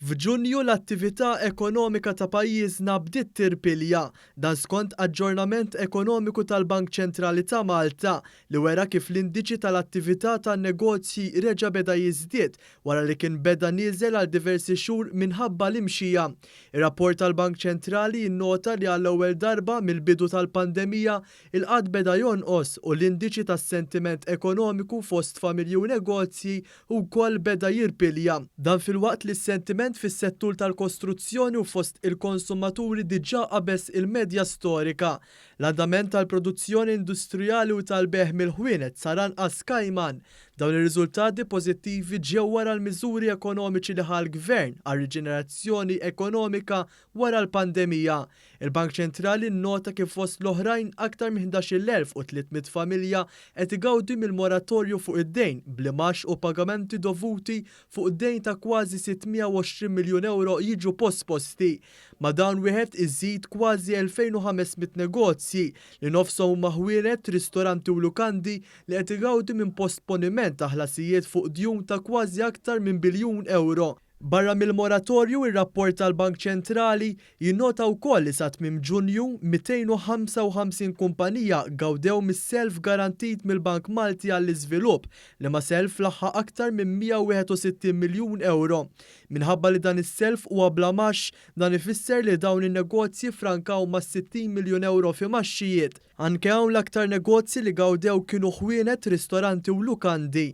F'Ġunju l-attività ekonomika ta' pajjiżna bdiet tirpilja, dan skont aġġornament ekonomiku tal-Bank Ċentrali ta' Malta li wera kif l-indiċi tal-attività tan-negozji reġa' beda jiżdied wara li kien beda nieżel għal diversi xhur minħabba l-imxija. Ir-rapport tal-Bank Ċentrali jinnota li għall-ewwel darba mill-bidu tal-pandemija, Il-qgħad beda jonqos u l-indiċi tas-sentiment ekonomiku fost familji u negozji wkoll beda jirpilja. Dan filwaqt li s-sentiment fis-settur tal-kostruzzjoni u fost il-konsumaturi diġà qabeż il-medja storika. L-andament tal-produzzjoni industrijali u tal-bejgħ mill-ħwienet sar anqas kajman. Dawn ir-riżultati pożittivi ġew wara l-miżuri ekonomiċi li ħa l-Gvern għar-riġenerazzjoni ekonomika Wara l-pandemija, il-Bank Ċentrali nnota kif fost l-oħrajn aktar minn 11,300 familja qed igawdi mill-moratorju fuq id-dejn bl-imgħax u pagamenti dovuti fuq dejn ta' kważi 620 miljun ewro jiġu posposti. Ma' dan wieħed iżid kważi 2,500 negozji li nofshom huma ħwienet, ristoranti u lukandi li qed igawdi minn postponiment ta' ħlasijiet fuq djun ta' kważi aktar minn biljun ewro. Barra mill-moratorju, ir-rapport tal-Bank Ċentrali jinnota wkoll li sa tmiem Ġunju, 255 kumpanija gawdew mis-self garantit mill-Bank Malti għall-Iżvilupp li ma self laħħaq aktar minn 161 miljun ewro. Minħabba li dan is-self huwa bla mgħax, dan ifisser li dawn in-negozji ffrankaw ma' 60 miljun ewro f'imgħaxxijiet. Anke hawn l-aktar negozji li gawdew kienu ħwienet, ristoranti u lukandi.